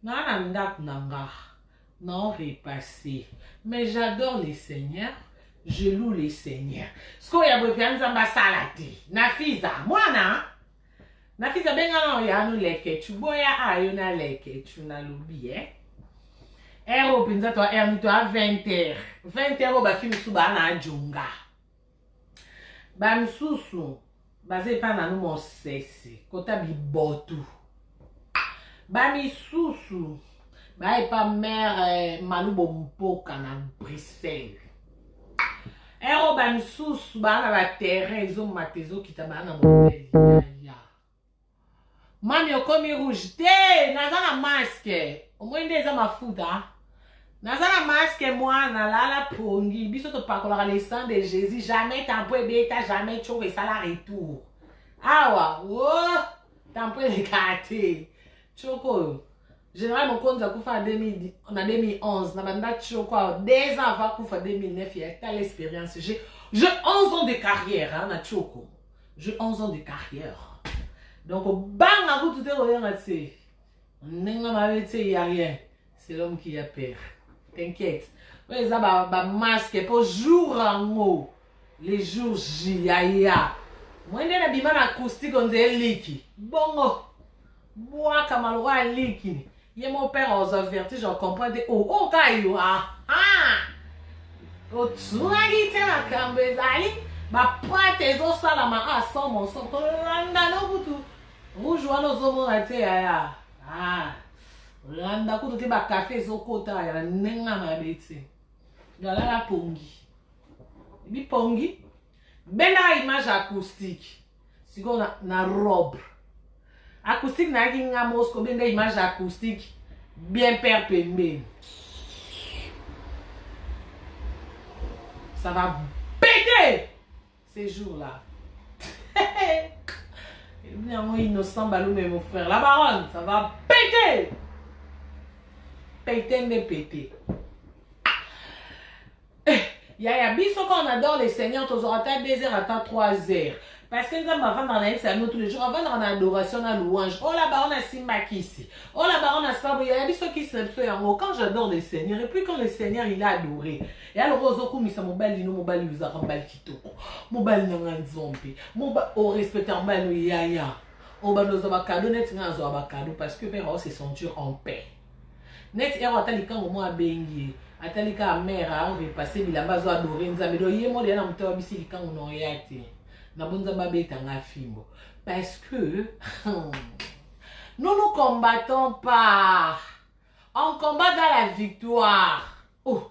Naza na ndaku na nga nao repase mais j'adore le seigneur je loue le seigneur sikoyo ya boye pea nzambe asala te na fiza mwana na fiza benga nao ya no lekechu boya ayo na lekechu nalobi eh ero mpenza to erni to a 20 heure 20 heure oyo bafilme su baa na ajonga Ba misusu baza epa nanu mosese kota bibotu ba misusu ba epa mère eh, malubo mpoka na Bruxelles ero ba misusu baa na ba terrain ezomata ezokita baa na mobeli Mamy okomi rouge te naza na masque omoni nde eza mafuta naza na masque mwana lala pongi biso topakolaka le sang de jésus jamais tampo ebeta jamais tshoko esala retour awa o oh, tampo elekaa te tshoko oyo général mokonzi akufa na 2011 na banda tshoko awa deux ans avant akufa 2009 ya tala expérience j'ai 11 ans de carrière hein, na tshoko J'ai 11 ans de carrière. Donc banga kutu te koyanga tse. Ndenge mabe tse y a rien. C'est l'homme qui a peur. T'inquiète. oyo eza bamaske mpo jour yango le jour j yaya mwende na bima na acoustique onze eliki bongo Bwaka maloba ya liki. Ye mon père ozwa vertige o comprendre te. Oh, oh ka yo. Ah, ah. Otunaki te makambo ezali ba prate ezosalama a somo somo. Tolanda no kutu. Rouge wana ozomona te yaya. Ah. Olanda kutu te ba café ezokota ya ndenge na beti. Galala pongi. Bipongi. Benda image acoustique. sikoyo na, na robe acoustique nayaki nga mos kobenda image ya acoustique bien père pembeni ça va péter ces jours là ebi yango innocent balume mon frère la baronne ça va péter péter nde péter Eh, yaya biso quand on adore le seigneur tozwaka ata 2 heures ata 3 heures parce que nzambe avandaka na ye bisango tous les jours avandaka na adoration na louange ola oh, baona simba kisi ola oh, baona sabu yaya biso kisi na biso yango quand j'adore le seigneur et puis quand le seigneur il a adoré ya loko ozokumisa mobali no mobali ozalaka mobali kitoko mobali na ngai nzombe orespecta oh, mobali no yaya obanda ozwa bakado neti ngai nazwaka bakado parce que mpe aosesentir en paix Neti erro ata likango mwa abengi ye atali kaka mère a repasser bilamba azo adorer nzambe donc ye mode ya na moto abisi likango na oya te na bo nzambe abeta nga fimbo parce que nous nous combattons pas on combat dans la victoire oh.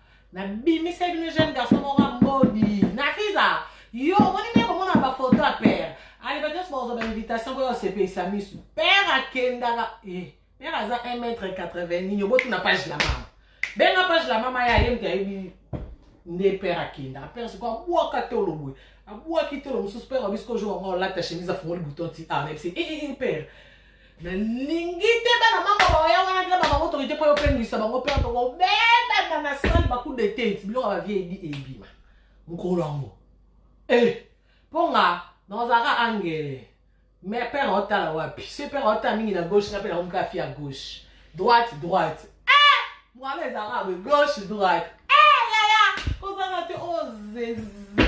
Na bimiseli bino jeune garçon moko mbodi. Na fiza. Yo omoni nde komona ba photo ya père. Aliba nyonso bakozwa ba invitation boya osepelisa miso. Père akendaka eh père aza 1 mètre 80 nini obotuna page la mama. Benga page la mama ya ye mte ayebi nde père akendaka. Père sikoyo abwaka tolo boye. Abwaki tolo mosusu père wabi sikoyo jour yango olata chemise afungoli bouton ti ah na yebisi eh eh père nalingi te bana mama baya wana te baba autorité mpo yopengwisa bango mpe tokobebaka na sale bacoup de tete biloko ya bavie ebi ebima mokolo yango e eh, mpo nga nazalaka angele me pere aotala wapi se pere aotala mingi na gauche nga mpe nakomi kafi ya gauche droite droite e eh, mwana ezalaka boye gauche droite e eh, yaya kozanga te ozezi oh,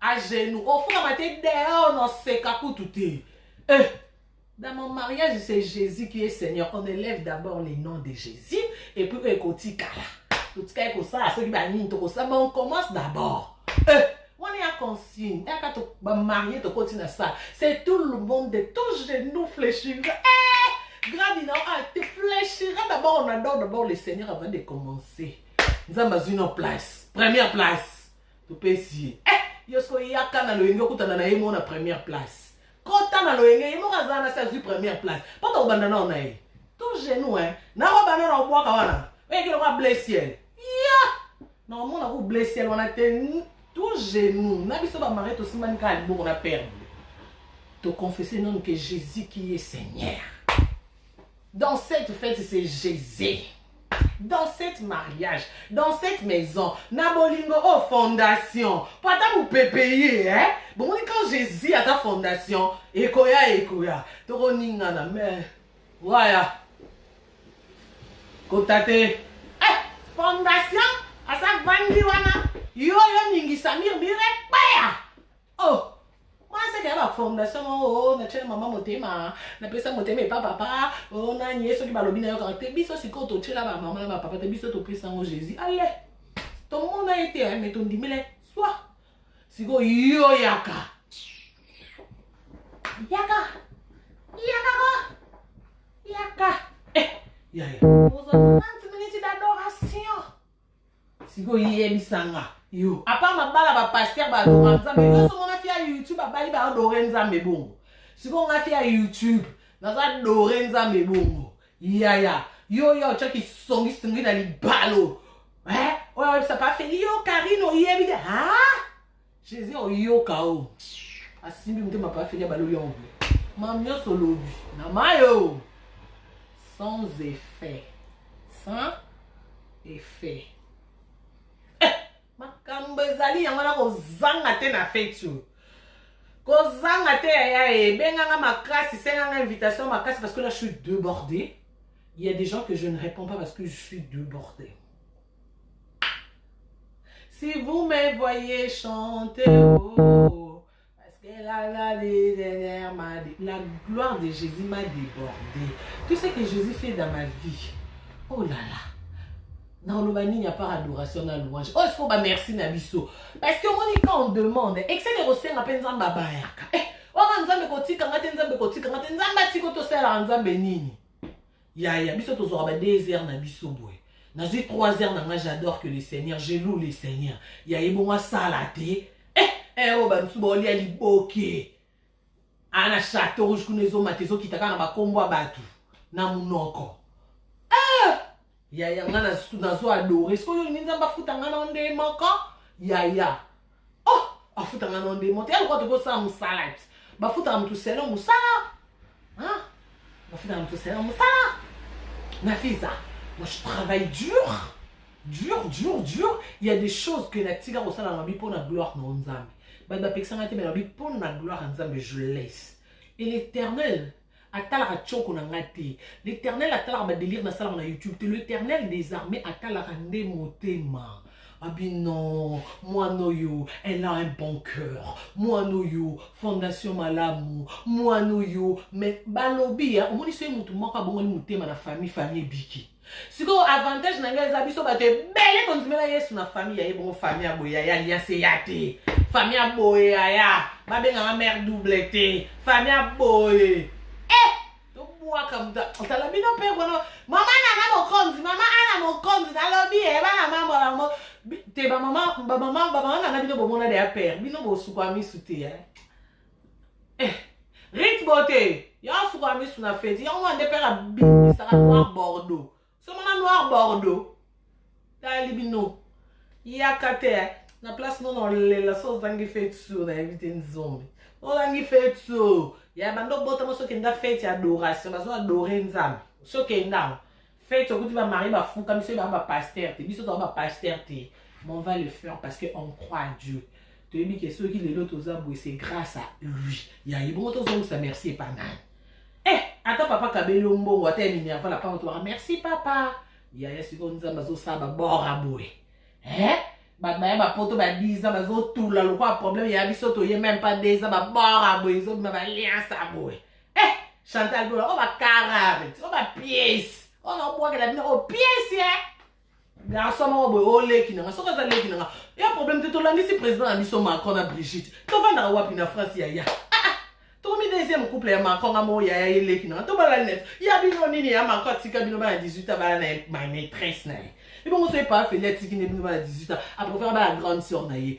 a genoux ofungama te dehors na seka kutu te eh. Dans mon mariage, c'est Jésus qui est Seigneur. On élève d'abord le nom de Jésus et puis ekotikala. Totika ekosala soki banini tokosamba on commence d'abord. Eh, wana ya consigne yaka bamarie tokoti na sala c'est tout le monde tout genou fléchira eh, grandi na ah, te fléchira d'abord on adore d'abord le Seigneur avant de commencer. Nzambe azwi no place première place topesi ye eh, yo sikoyo yaka na loyenge okutana na ye moko na première place kota na loyenge ye moko azala na se azwi première place mpo tokobanda nao na ye to genou eh. nakobanda na obwaka wana oyeki lokwa blessiel ya nakomona ku blessiel wana te to genou na biso bamari tosimbani kaka liboko na perde toconfese nanu ke jésus qui est seigneur Dans cette fete c'est jeze dans cette mariage dans cette maison na bolingo oyo oh, fondation po ata mopepe ye eh? bomoni quand jésus aza fondation ekoya ekoya tokoningana mais waya kota te eh, fondation aza vandi wana yo yo ningisamir bire Oh! Mwa seke ya ba formation mwa o oh, na chela mama motema, na pesa motema epa papa, o oh, na nye soki balobi na yo kaka te, biso sikoyo to chela ba mama na ba papa te, biso to pesa ngo Jésus. Allez! To mona ye te, mais to ndimela swa. Sikoyo yo yaka. Yaka! Yaka ko! Yaka! Eh! Yaya. Ozo 30 minutes d'adoration. sikoyo yebisa nga yo apart mabala bapaster baadora nzambe yoso mona fi ya youtube abali baadore nzambe bongo sikoyo nga fi ya youtube naza dore nzambe bongo yaya yo yo otyaki songisongi na libalo eh? oyo oyebisa pafeli yo karine oyebi te ha Jesus oyoka o asimbi motema pa feli ya baloli yango boye mam nyonso olobi na mayo sans effet sans effet eh, makambo ezali yango na kozanga te na feti oyo kozanga te yaya ebenganga makasi senganga invitation makasi parce que là je suis débordé il y a des gens que je ne réponds pas parce que je suis débordé Si vous me voyez chanter, oh, parce que la, la, dernière m'a la gloire de Jésus m'a débordé. Tout ce que Jésus fait dans ma vie, oh là là. nakoloba nini ya par adoration na louange oyo sikoyo bamerci na biso parce que omoni ka on demande excele kosenga mpe nzambe abayaka eh, wana nzambe kotika nga te nzambe kotika nga te nzambe atiki tosalaka nzambe nini Yaya biso tozwaka ba 2 heures na biso boye. Nazwi 3 heures na nga j'adore que le Seigneur, je loue le Seigneur. Yaya ebongo asala te. Eh eh oyo oh, ba misusu baolia liboke. Aa na chateau rouge kuna ezomata ezokita kaka na bakombo ya bato na monoko. Eh yaya nga nazwa adore. Sikoyo olingi Nzambe afuta nga na nde moko? Yaya. oh afutanga na ndemo te yalokola toki osala mosala ti bafutaka motu selo mosala bafutaka motu selo mosala nafiza moi je travaille dur dur dur dur il y a des choses que natika kosala na mabi mpo na gloire na yo nzambe bato bapekisanga te me na mabi mpo na gloire ya nzambe je laisse et l'éternel atalaka tshoko na nga te l'eternel atalaka ba delire nasalaka na youtube te l'eternel desarme atalaka nde motema abi ah, non mwana oyo elle a un bon cœur mwana oyo fondation malamu mwana oyo mais balobi ya omoni soki motu moko abongoli motema na famille famille ebiki sikoyo avantage na ngai eza biso bato ebele tondimela yesu na famille ya ye bongo famille ya boye yaya alianse ya te famille ya boye yaya babengaka mare double te famille ya boye e tobwaka moto otala bino mpe kono mama nana mokonzi mama ana mokonzi nalobi e bana mambo yango te bamama bamama bamama nana bino bomona deya pere bino bosukwa misu te eh, rit bote yo asuka misu na feti yango wana nde mpe abimisaka noir bordeaux somona noir bordeaux tali bino yaka te na place nono olela so ozangi feti sur nayebi te nzombe olangi feti so ya banda obotama soki enda feti ya adoration bazo adore nzambe soki endango Feti okuti ba marie ba fuka biso yeba ba pasteur te biso toza ba pasteur te mais on va le faire parce que on croit à Dieu toyebi ke soki lelo toza boye c'est grâce à lui ya ye bongo tozongisa merci epa nani eh ata papa kabeli yo mbongo ata ya minerva na panga tobaka merci papa yaya sikoyo nzambe azosala babora boye eh bato baya bapoto ba 10 ans bazotula lokola problème ya biso toye meme pas 2 ans babora boye ezobima baliansa boye eh chantal bola oyo bakarare oyo bapiese oyo naobwakela bino oyo piese e garçon moko boye oleki nanga soki aza leki nanga ya problème te tolandisi président na biso macron na brigitte tovandaka wapi na france yaya tokomi deuxième couple ya macron nga moko yaya ye leki nanga tobala net ya bino nini ya macron atika bino bana 18 abala na ma maîtresse na ye ebongo so epa feli atiki nde bino bana 18 aprofera bana grande sœur na ye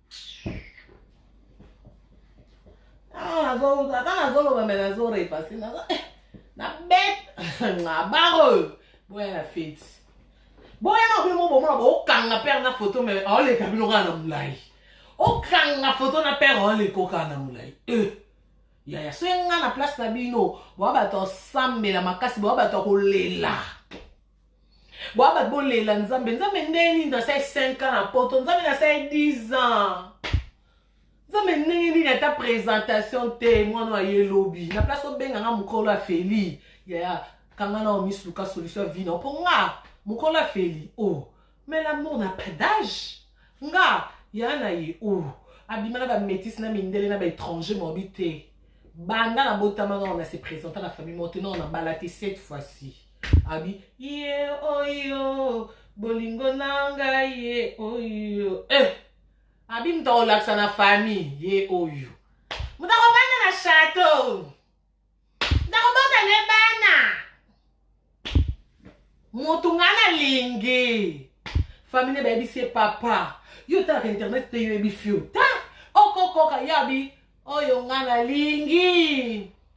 ata nazoloba me nazorepase nazo eh, na bet nabaro boya na feti boyaka bino mobomona bokanga pere na foto me aoleka bino kaka na molai okanga foto na pere aoleka okaka na molai eh. yaya soki nga na place na bino boya bato osambela makasi boya bato ya kolela boaba bolela nzambe nzambe ndenge nini nasali 5 ans na poto nzambe nasali 10 ans nzambe ndenge nini ata présentation te mwana oyo aye lobi na place obenga nga mokolo ya feli yaya kanga na omisu luka solution ya vina mpo nga mokolo ya feli o oh. mais l'amour na pas d'age nga ya na ye o oh. abima na bamétise na mindele na baétranger mobi te banda na botama nao na se présenta na famille moko te nao na bala te cette fois-ci Abi ye oyo bolingo na ngai ye oyo eh. Abi moto akolakisa na famille ye oyo moto akobanda na chateau moto akobota ne bana moto ngai nalingi famille ne bayebisi ye papa yo otalaka internet te yo oyebisi yo ta okokoka yabi oyo ngai nalingi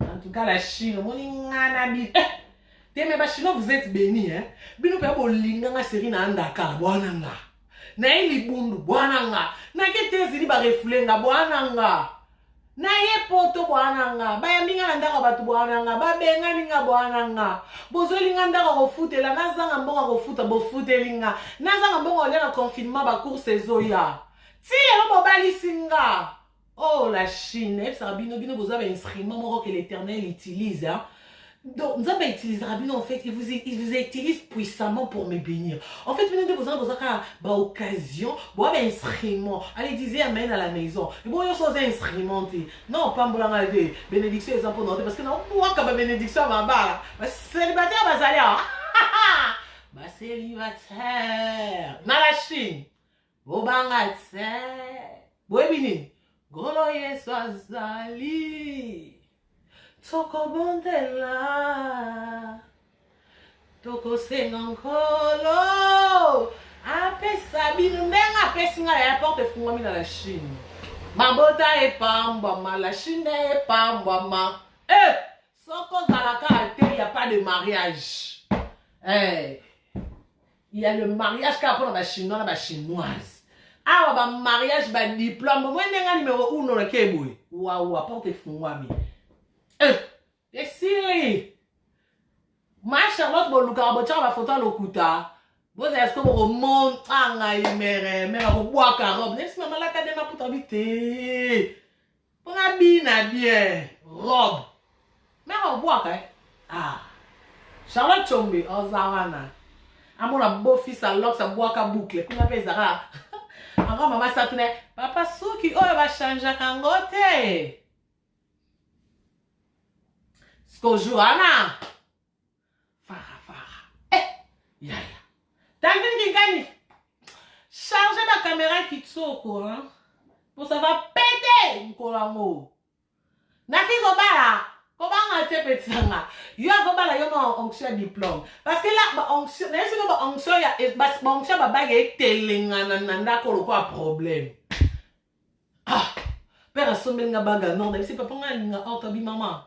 en tout cas la chine omoni nga na bi eh! te mais bachinois vous êtes béni hein? bino mpenza bolinga nga seri na andakala bwana nga naye libundu bwana nga nake te ezili barefule nga bwana nga naye poto bwana nga bayambi nga na ndako ya bato bwana nga babengani nga bwana nga bozweli nga ndako kofutela nazanga mbongo kofuta bofuteli nga nazanga mbongo olia na confinement bacourse ezoya ti lelo bobalisi nga oh la chine nayebisaka bino bino boza bainstrument moko ke l'éternel utilise hein? donc nzambe autilisaka bino en fait il vous, il vous utilise puissamment pour me bénir en fait bino nde bozala boza kaka baoccasion boa bainstrument ale disait amen à la maison ebo nyonso oza instrument te non pambolanga te bénédiction eza mpo na te parce que naobwaka babénédiction ya mabala baselibataire bazali awa baselibataire na la chine bobanga te boyebi nini ngolo yesu azali tokobondela tokosenga nkolo apesa bino ndenge apesi ngai ya porte efungwami na la chine mabota epambwama la chine epambwama e eh, soko ozalaka te ya pas de mariage eh. il y a le mariage kaka mpona ba chinois na ba chinoise awa ba mariage ba diplome omoi ndenge ya numero uno na ke boye wawa porte efungwami eh, esili ma charlotte bolukaka botyaka bafoto ya lokuta bozala siko bokomonta ngai mere mere akobwaka robe nesi mama lata nde maputa bi te Mpo na bina bien robe. Mère obwaka eh? Ah. Charlotte Chombe oza wana. Amona beau fils à Lox abwaka boucle. Kuna pe ezaka. Encore maman satuna papa suki oyo ba changeaka yango te. Sikoyo jour wana Fara fara. Eh, yaya. David Kingani. Chargez la caméra qui tsoko, hein. Pour ça va péter, mkolango. Nafi Zobala. kobanga te peti na nga yo akobala yo ma onction ya diplôme parce que la baonction naye siko baonction ya baonction babage etelengana na ndako lokola problème ah père asombeli nga baga nord nayebisi papa nga alinga ortobi mama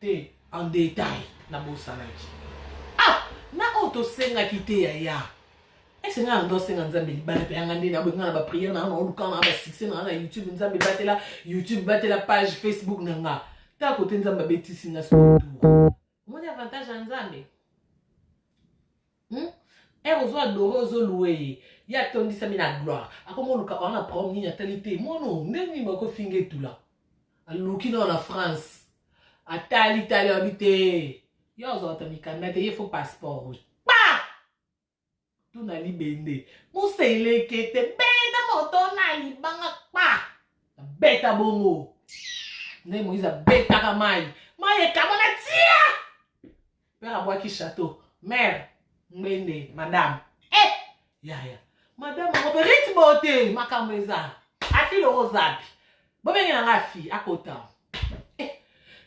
te en detail na bosanaki ah na oyo tosengaki te yaya ese ngai nando asenga nzambe libala mpe yanga nde naboyi ngai na bapriere na nga na oluka na nga basuccès na nga na youtube nzambe batela youtube batela page facebook na nga ta kote nzambe abetisi nga sotour omoni avantage ya nzambe hmm? ere ozo adore ozo loue ye ye atondisami na gloire akoma oluka oa na prom nini atali te mono nde nini bakofinga etula aluki nao na france atali tali abi te ye ozwata mikanda te ye fo passeport oyo pa tuna libende moselekete beta moto na libanga pa abeta bongo nde moise abetaka mai mai ekabana tia Père abwaki chateau. Mère, ngbende, madame. Eh! Yaya. Madame, on peut rythme beauté, makambo eza. Afi le rosabi. Bobenge na nga afi, akota. Eh!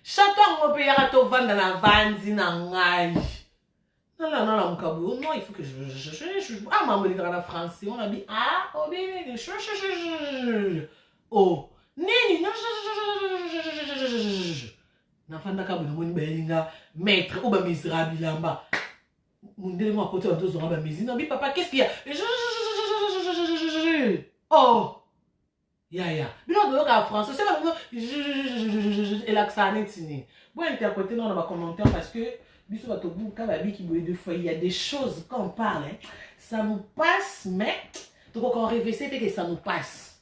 Chateau yango mpe yaka tovanda na vanzi na ngai. nalala mokabu non il faut que ah mambo elekaka na français on abi ah obelele o nini nafandaka boye namoni bayeli nga maître oyo bamizira bilamba mondele moko akoti banzo zonga bamizi nabi papa qu'est-ce qu'il y a oh yaya bino baboyoka français se bango elakisaka neti nini bo interprete nao na bacommentaire parce que biso bato buka babiki boye de fois il y a des choses quand on parle ça nous passe mais tokoka orevese te que ça nous passe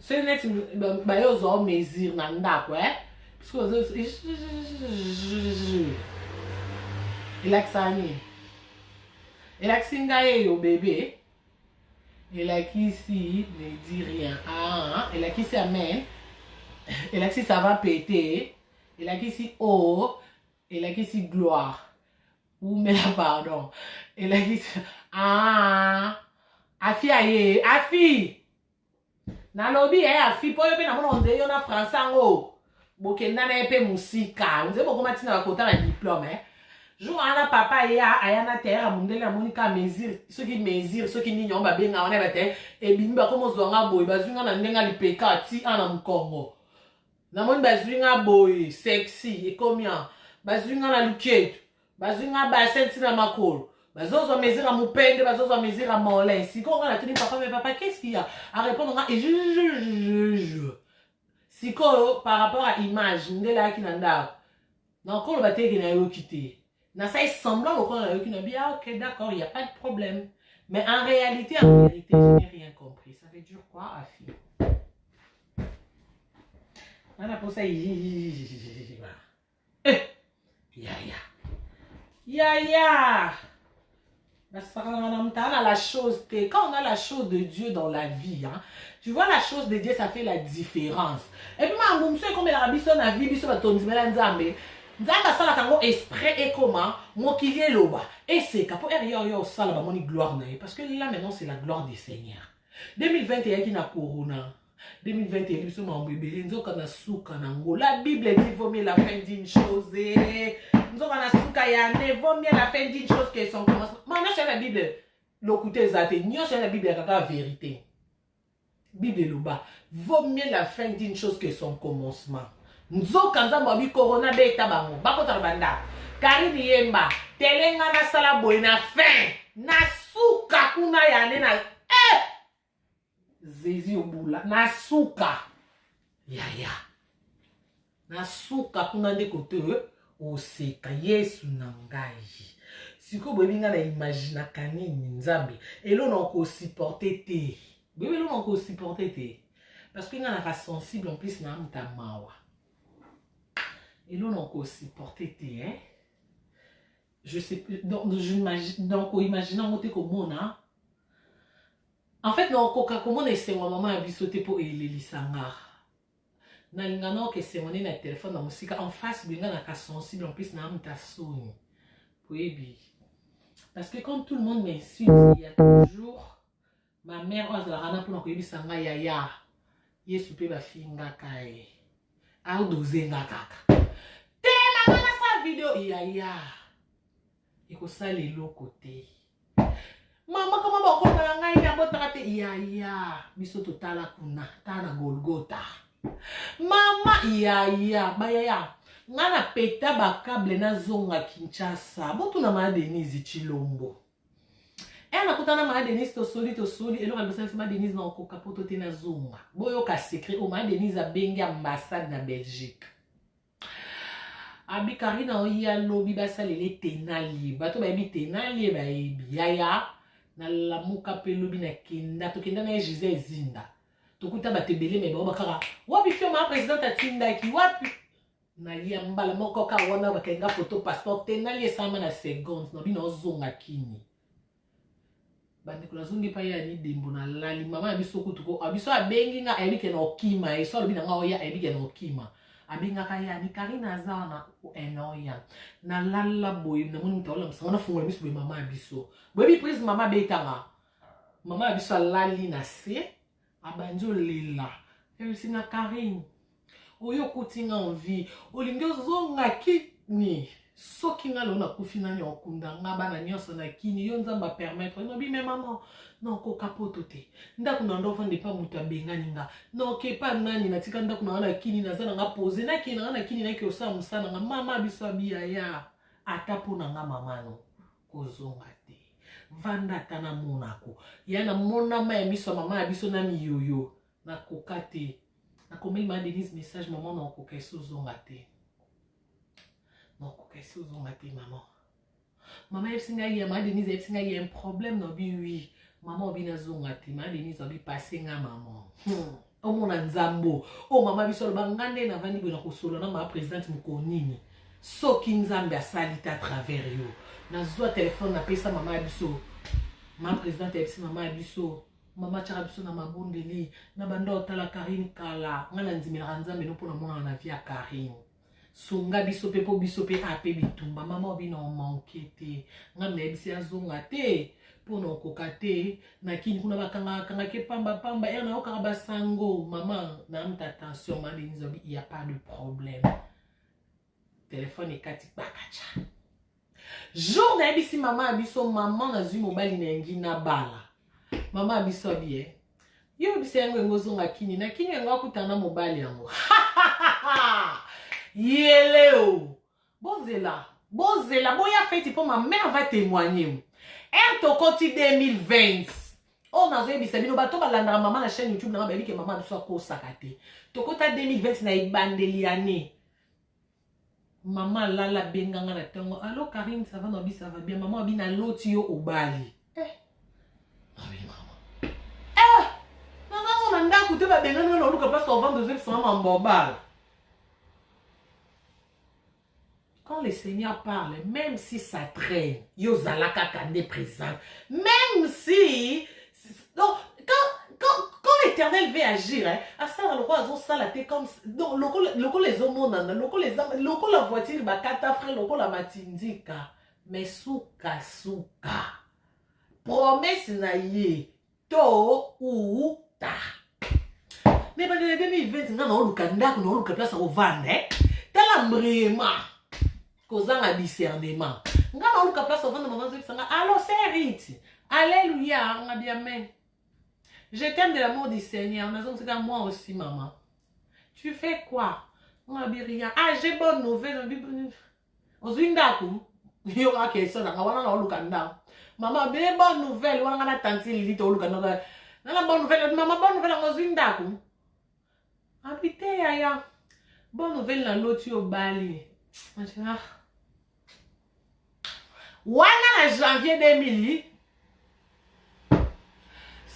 soki neti baye ozwa o mesure na ndako e soki ozo elakisaka nini elakisi ngai eyo bebe elakisi ne di rien ah, elakisi amen elakisi ça va pete elakisi o oh, elakisi gloire umela pardon elakisi ah, afi aye afi nalobi ya ya fi po yo mpe namona onzeli yo na français yango bokenda na ye mpe mosika onzeli bokoma ntina bakota na diplome eh? jour wana papa ya aya na terre ya mondele amoni ka mesure soki mesure soki nini yango babenga wana bate eh, ebimi bakoma ozwa nga boye bazwi nga na ndenge lipeka ti a na mokongo namoni bazwi nga boye sexy ekomi a bazwi nga na luketu bazwi nga base nti na makolo bazozwa mesure ya mopende bazozwa mesure ya molin sikoyo nga natuni papa me papa qu'est-ce qu'il y a arépondre nga ejujujuju sikoyo par rapport ya image ndele ayaki na ndako nakolo bateke nayoki te nasali semblant lokola nayoki na bia ah, ok d'accord il y a pas de problème mais en réalité en vérité je n'ai rien compris ça veut dire quoi afi nga naposa Eh, yaya yaya nasakanaka na motala na la chose te quand on a la chose de dieu dans la vie hein, tu vois la chose de dieu ça fait la différence epuis makambo mosusu ekomelaka biso na vie biso bato tondimela nzambe nzambe asalaka yango esprit ekoma mokili eloba eseka mpo ere yo yo osala bamoni gloire na ye parce que là maintenant c'est la gloire du seigneur 2020 eyaki na corona 2020 eyebi biso makambo ebele nzoka na suka na ngo la bible dit vaut mieux la fin d'une chose eh. nzoka na suka ya ne vaut mieux la fin d'une chose que son commencement ma nyonso ya na bible lokuta eza te nyonso ya na bible yaka kaka verité bible eloba vaut mieux la fin d'une chose que son commencement nzoka nzambe wabi corona beta bango bakota na bandako karine yemba telenga nasala boye na fin na suka kuna ya ne na eh! zezi obula na suka yaya na suka kuna nde kote eh, oseka yesu na ngai sikoyo boyebi ngai na imaginaka nini nzambe elo na okosupporte te boyebi elo na okosupporte te parce que ngai naka sensible en plus na muta mawa elo na okosupporte te eh? je sais plus donc j'imagine donc imagine yango te komona en fait nakokoka komona esengo ya mama ya biso te mpo elelisa nga nalinga naoka esengo nde na telefone na mosika en face boye nga naka sensible en plus na amuta soni boyebi parce que quand tout le monde m'insulte il y a toujours Ma mère oyo azalaka na pona koyebisa nga yaya yesu pe bafingaka ye adoze nga kaka telaka nasala video yaya ekosala eloko te mama kama bakotala ngai nabotaka te yaya biso totala kuna tala na golgota mama yaya bayaya ngai na peta bakable nazonga kinshasa botuna ma denise chilombo Ena eh, kutana ma Denise to soli to soli eloko na bisalisi ma Denise na okoka poto te na zonga. Boyo ka secret o ma Denise abengi ambassade na Belgique. Abi Karina oya lobi basalele tenalie. Bato bayebi tenalie bayebi yaya na lamuka pe lobi na kenda to kenda na ye Gisèle Zinda. Tokuta bato ebele me bango bakaka wapi fioma president atindaki wapi na ye mbala moko kaka wana bakangi nga foto passeport te nali esalama na seconde na bino ozonga kini bandeko nazongi epai ya nidembo nalali mama na biso kutu ko biso abengi nga ayebi ke na okima ye so alobi na nga oya ayebi ke na okima abengaka ye ani karine aza wana enoya nalala boye namoni moto aolamisa nga nafungola miso boye mama ya biso boyebi prise mama abetanga mama ya biso alali na se Abandi olela ebisi na Carine oyo okuti nga en vie olingi ozonga kini soki nga lelo nakufi nani okunda nga bana nyonso na kini yo nzambe apermettre olobi me mama nakoka poto te ndako na ndo ofanda epa moto abengani nga naoke epa nani natika ndako na nga na kini naza na nga pose nakei na nga na kini nake osala mosala na nga mama biso abiyaya ata mpo na nga mamano kozonga te vanda ata na monako ya na monama ya miso ya mama ya biso na miyoyo nakoka te nakomeli ma denise message mama na okoka esi ozonga te na okoka esi ozonga te mama mama yebisi ngai ya ma denise yebisi ngai ya un problème na obi wi mama obi nazonga te ma denise obi pase nga mama hmm. omona nzambo oyo oh, mama biso aloba nga nde navandi boye na kosolo na mama presidente mokolo nini soki nzambe asali te atravers yo nazwa telefone napesa mama ya biso mama presidente ayebisi mama ya biso mama atyaka biso na mabondeli na banda otala karine kala ngai nandimelaka nzambe no mpo namonana na vi ya karine sunga biso mpe mpo biso mpe ape bitumba mama obina omanke te ngai nayebisi azonga te mpo na okoka te na kini kuna bakangakangaki pamba pamba ere nayokaka basango mama namta tension madenise abi ya pas de problème telefone ekati kpakaca Jour nayebisi mama ya biso mama nazwi mobali na yangi na bala. Mama ya biso abi eh. Yo yebisa yango yango ozonga kini na kini yango akutana na mobali yango. Yeleo. Bozela. Bozela boya feti mpo ma mère va témoigner. Ère tokoti 2020. oyo oh, nazoyebisa bino bato balandaka mama na chaîne youtube nanga bayebi ke mama biso akosaka te tokota 2020 na ebandeli ya ne Maman lala benga nga na tango. Allo Karine ça va na bi ça va bien. Maman bi na loti yo obali. Eh. Maman maman. Eh. Na na na ndako te ba benga na luka pas au vendre zeli sama mambobal. Quand le Seigneur parle, même si ça traîne, yo zalaka kande présent. Même si donc quand quand quand l'éternel veut agir hein asala lokola azosala te comme donc lokola lokola ezomonana lokola eza lokola voiture bakata frais lokola matindika mais suka suka promesse na ye to ou ta na ebandela ya 2020 nga naoluka ndako naoluka place akovanda eh? tala mbrema kozanga discernement nga naoluka place ovanda mama azokisa nga alo serite alleluia nga bia amen je t'aime de l'amour du seigneur nazongisaka moi aussi mama tu fais quoi nga bi rien ah j'ai bonne nouvelle ozwi ndako yo kaka question nanga wana naoluka ndako mama be bonne nouvelle wana nga na tanti lili tooluka ndako nana bonne nouvelle mama bonne nouvelle yango ozwi ndako Abite yaya. Bonne nouvelle na loti obali. Ah. Wana na janvier 2000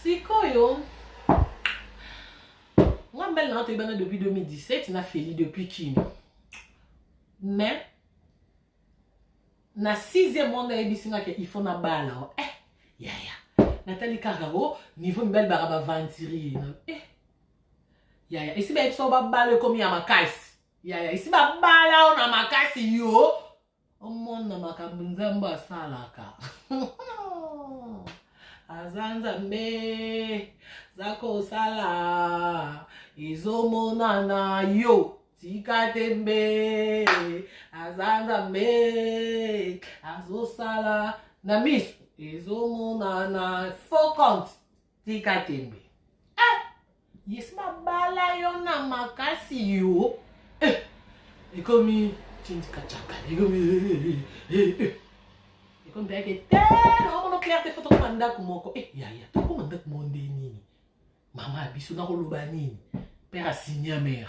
sikoyo nga mbele nanga toyebana depuis 2017 na feli depuis kini mais na sixième mois nga yebisi nga ke il faut na bala o eh yaya natali kaka o niveau mibali baka baventurier eh yaya esi bayebisa yo babalo ekomi ya makasi yaya esi babala yo na makasi yo omona makambo nzambe asalaka aza nzambe za kosala ezomonana yo tika te mbe aza nzambe azosala na miso ezomonana fo compte tika tembe eh, yes babala yo na makasi yo eh, ekomi cindikacaka ekomi eh, eh, eh, ekomi mpe te naomona claire te fo tokoma ndako moko e yaya tokoma ndako moko nde nini mama ya biso nakoloba nini père asinia mare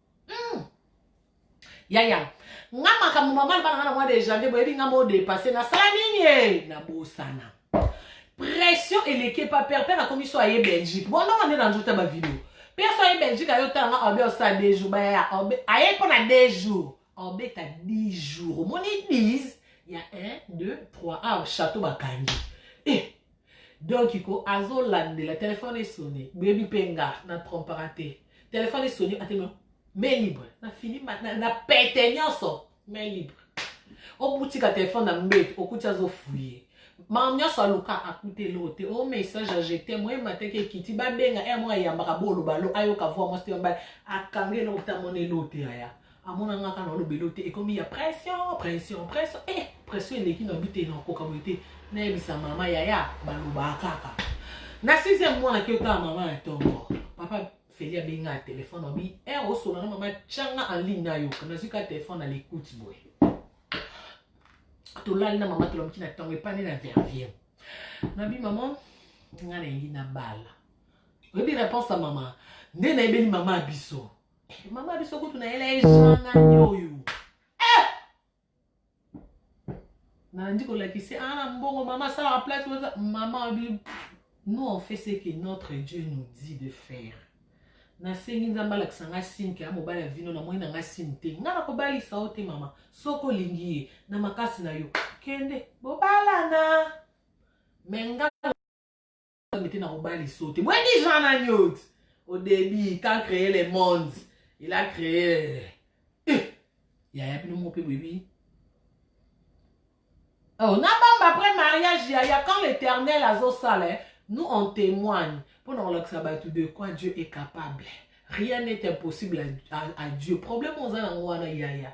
hmm. yaya nga makambo mama na bana nga na mwa de janvier boyebi nga mo depasse nasala nini e nabosana pression eleki epa père père akomi so aye belgique bon ndongo nde na nzota bavideo père so aye belgique aye otala nga obe osala deux jours bayaya aye mpo na deux jours obeta 10 jours omoni 10 ya 1 2 3 awa château bakangi e eh, donc ko azolandela telefone esone boyebi mpe nga na trompaka te telefone esoni atelema main libre na fini na pete nyonso main libre obutika telefone na mbete okuti azofuye makambo nyonso aluka akuta eloko te o message ajete moye mateke ekiti babenga ere moko ayambaka bolobalo ayoka voi mwasi te mobali akanga eloko te amona eloko te yaya amona nga kaka naolobelo te ekomi ya pression pression pression e eh, pression eleki na bi te nakoka boye te nayebisa mama yaya balobaa kaka na sixième mwana ki otala mama ya tongo papa feli abenga ya telefone abi e eh, osola na mama tyanga en ligne nayoka nazwi ka telefone na lekute boye tolali na mama tolamuki na ntango epani na vervier nabi mama nga nayebi na bala oyebi réponse ya mama nde nayebeli mama ya biso Mama biso kutu na yela ejean nani oyo eh! nalandi kolakisi ana ah, mbongo mama asalaka place oza mama abi nous on fait ce que notre dieu nous dit de faire nasengi nzambe alakisa ngai sini ke ya mobali ya vino namoni na ngai sini te ngai nakobalisa yo te mama soki olingi ye na makasi na yo kende bobalana me ngai nzambe te nakobali so te boyebi jean nani oyo au début quand créer le monde il a créé eh, yaya bino moko mpe boyebi oh, nabamba après mariage yaya quand l'éternel azosala eh, nous on témoigne mpo na kolakisa bato de quoi dieu est capable rien n'est impossible à, à, à dieu problème oza nango wana yaya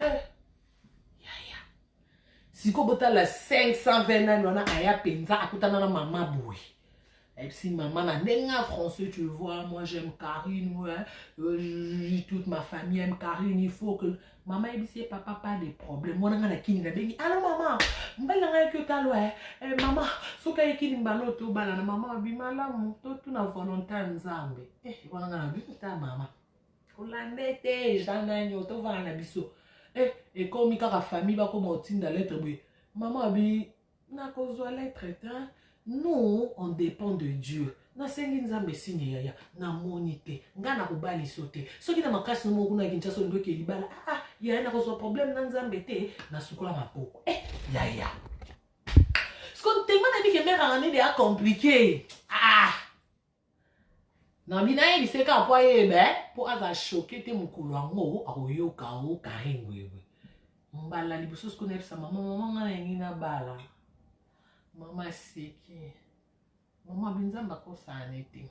eh, yaya sikoyo botala 520 nani wana aya mpenza akutana na mama boye ayebisi mama na ndenge ya français tu vois moi j'aime carine ouais. euh, toute ma famille aime carine il faut que mama ayebisi ye papa pas de problème wana ngai na kini nabengi alo mama mbali na ngai yaki otalo e eh, mama soki ayekini mbala oyo tobalana mama abi malamu totuna volonté ya nzambe eh, wana ngai nabi ta mama Hollandais te eza nani otovana na biso eh, ekomi kaka famille bakoma otinda lettre boye mama abi nakozwa lettre te nous on dépend de dieu nasengi nzambe signe yaya namoni te ngai nakobali so te soki na makasi no moko kuna kinshasa olingi oke libala aa ah, ah, yaya nakozwa problème na nzambe te nasukola maboko eh, yaya siko ntema na bike mère anganede acomplike ah Nami nayebisa ye kaka mpo ayeba mpo aza choke te mokolo yango akoyoka o Carine boyeboye mbala liboso siko nayebisa mama mama ngai nalingi nabala mama aseki mama binzambe akosana te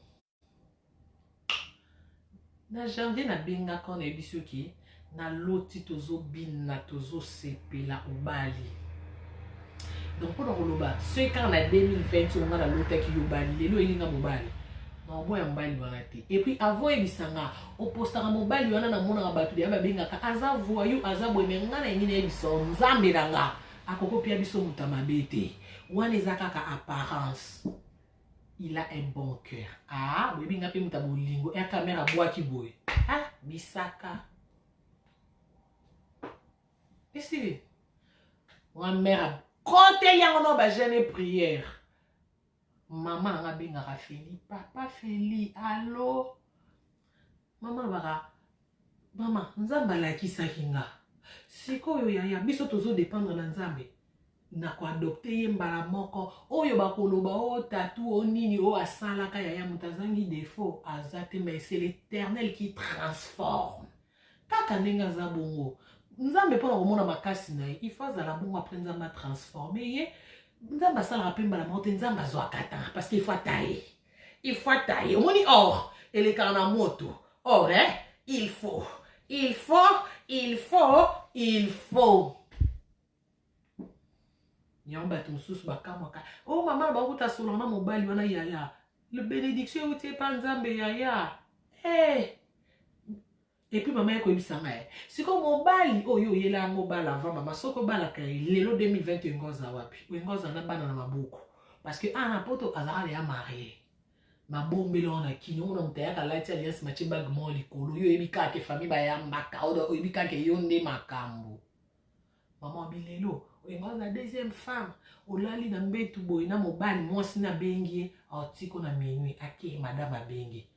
Na janvier na bengaka yo na yebisi yo ke na loti tozo bina tozo sepela obali donc mpo na koloba soki kaka na 2020 oyo ngai nalotaki yo bali lelo oyeli nga mobali naoboya mobali wana te epuis avant oyebisa nga opostaka mobali wana namonaka bato deya babengaka aza voyou aza boye me ngai nalingi nayebisa yo nzambe na nga akoki opia biso moto ya mabe te wana eza kaka apparence il a un bon cœur ah boyebi nga mpe moto ya bolingo r camera abwaki boye ah bisaka esili nga mère kote yango no bagene prière mama anga abengaka feli papa feli alo mama alobaka mama nzambe alakisaki nga sikoyo yaya biso tozo dependre na nzambe na koadopte ye mbala moko oyo bakoloba o oh, tatu o oh, nini oyo oh, asalaka yaya moto azangi defaut aza te mais c'est l'éternel qui transforme kaka ndenge aza bongo nzambe mpo na komona makasi na ye il faut azala bongo apres nzambe atransforme ye nzambe asalaka mpe mbala moko te nzambe azwaka temps parce qu'il faut ataye il faut ataye omoni or elekaka na moto or eh? il faut il faut il faut il faut yango bato mosusu bakamwaka o oh, mama bakuta solo na mobali wana yaya benediction euti epa nzambe yaya hey. Eh! Et puis maman yako yebisa nga eh. Siko mobali oyo oh, yela yango bala avant maman soko bala ka eh, lelo 2020 engoza wapi? Engoza na bana na maboko. Parce que ana ah, poto azala ya marié. mabombela wana kini omona moto ayaka alati alliance matie bage moko likolo yo oyebi kaka ke famille bayambaka oyebi kaka yo nde makambo Maman bilelo oyembaka na deuxième femme olali na mbetu boye na mobali mwasi na bengi ye aotiko na minuit ake madame abengi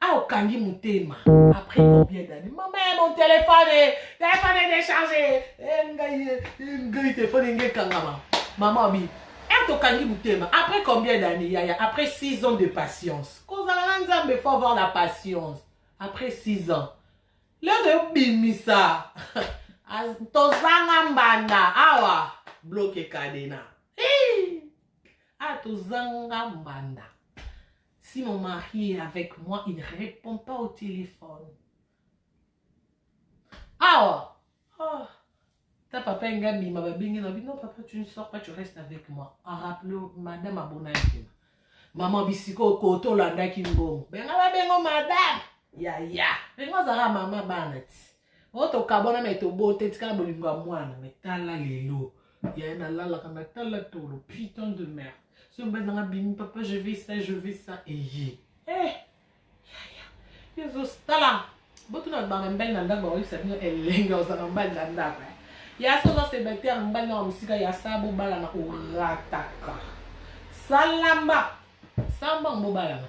ah okangi motema après combien d'année mama ya mon téléphone eh, téléphone est déchargé eh, ngai eh, ngai téléphone enge ekangama mama obi ete tokangi motema après combien d'année yaya après 6 ans de patience kozala na nzambe faut avoir la patience après 6 ans leo nayo bimisa tozanga mbanda awa bloke kadena ah tozanga mbanda si mon mari est avec moi il ne répond pas au téléphone awa Oh, ta papa enga abima babengi na bi non papa tu ne sors pas tu restes avec moi en rappele madame abona ekema mama bisika okota olandaki mbongo benga babengo madame yaya benga ozalaka mama bana ti o tokabwana me tobote tikala bolingo ya mwana me tala lelo yaya nalalaka natala tolo putain de merde soki mobali nanga bimi papa je vais ça je vais ça eye eh Yaya, yo ozo tala botuna ba mbali na ndako bakoyebisa bino elengi oza na mbali na ndako eh. ya sa oza célibataire mbali nao mosika ya sa bobalana orataka salamba sambango bobalana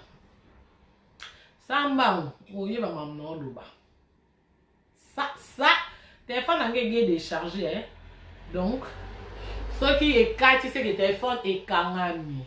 sambango oyeba mamu na oloba sa sa telefone yango ege decharge eh. donc soki ekati seke telefone ekangami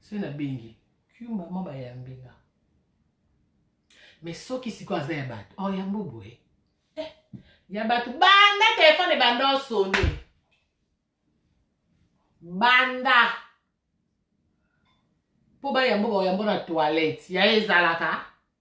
soki nabengi yo mama bayambi nga mais soki sikoyo aza ya bato oh, yambo boye eh, ya bato banda telefone banda osone banda mpo bayambo bayambo na toilette ya ezalaka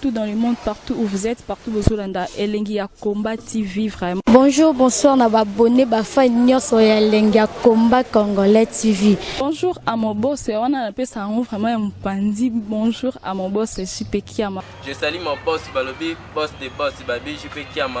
tout dans le monde partout où vous êtes partout bozolanda elengi ya combat tv vraiment bonjour bonsoir na babone bafai nyonso ya elengi ya combat congolais tv bonjour à mon boss wana napesa yango vraiment ya mopanzi bonjour à mon boss jp kiama je sali mon boss balobi boss de boss babi jp kiama